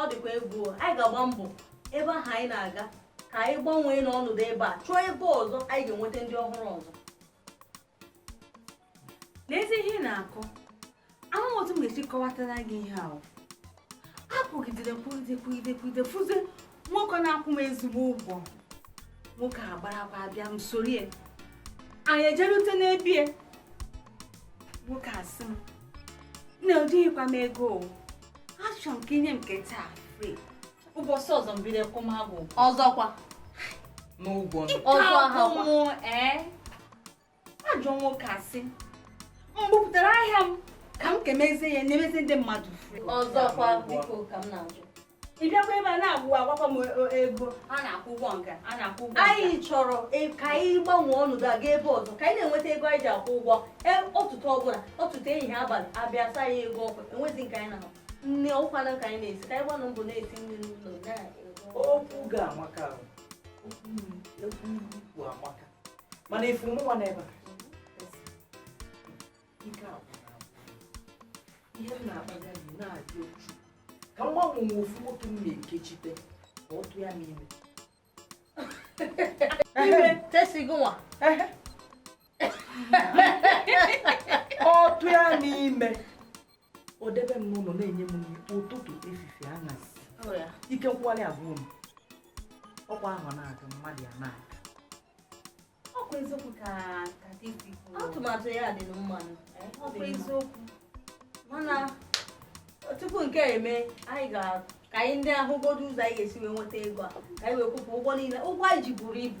ọ dịkwa egwu anyị ga-agba mbọ ebe ahụ anyị na-aga ka anyị gbanwee n'ọnọdụ ebe a chọọ ebe ọzọ anyị ga-enweta ndị ọhụrụ ọzọ n'ezi ihe ị na-akọ amaghị otu m ga-esi kọwatara gị ihe ahụ akwụgidere kwuide kwuide kwuide fụzie nwoke na-akwụ m ezigbo ụgwọ nwoke a gbarakwa abịa m soro ya anyị ejerute n'ebe ya nwoke a sị m na ejighịkwa m ego achọ m ka i nye m nke taa free ụbọchị ọzọ m bido kwụma gị ọzọkwa n'ụgwọ ọzọ ahụ ee ajọ nwoke asị m bupụtara ahịa m ka m kemezie ya nyemezi ndị mmadụ ọzọkwa biko ka m na-ajụ ị bịakwa ebe a na-agwakwa m e, ego a na-akwụ ụgwọ nke a na-akwụ ụgwọ anyị chọrọ e, ka anyị gbanwee ọnọdụ aga ebe ọzọ ka anyị na-enweta ego anyị ji akwụ ụgwọ e, ọtụtụ ọbụla ọtụtụ ehihie abalị abịa sa ya ego ọkụ enwezi nke anyị na-ahụ nne ọkwa na ka anyị na-esi ka anyị gbanụ mbọ na-esi nri n'ụlọ okwu gị amaka okwu amaka mana ị fụ mụnwa n'ebe a ike agwụrụ agwụ ihe m na-akpaga gị na-adị ochu ka m gbanwe nwe ofu nwoke m na-ekechite ka ọ tụ ya n'ime ime Tessy gịnwa ọ tụ ya n'ime o debe m n'ụlọ na-enye m nri ụtụtụ efife anyasị ike nkwụgharị agwụ m ọkwa ahọ na-aga mmadụ ya na-aga ọkwa eziokwu ka ka gị si kwuo atụmatụ ya dị mma ọkwa eziokwu mana tupu nke a eme anyị ga ka anyị ndị ahụgodu ụzọ anyị ga-esi wee nweta ego a ka anyị wee kwụpụ ụgwọ niile ụgwọ anyị ji buru ibu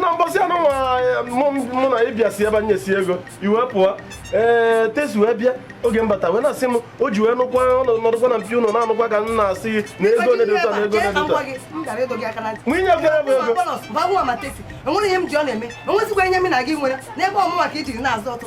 na mbọsị anụ mụ na ịbịa si ebe anyị si ego iwe pụọ ee Tessy wee bịa oge m bata wee na-asị m o ji wee nụkwa nọdụkwa na mpi ụlọ na-anụkwa ka m na-asị gị na ego onye dị ụtọ na ego onye dị ụtọ nwunye bịara bụ ego enweghị ihe m ji ọ na-eme enwezikwa ihe m na gị nwere n'ebe ọmụma ka i jiri na-azụ ọtụ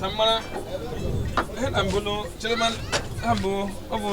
ka m mara ihe na mbụ chere ha bụ ọ bụ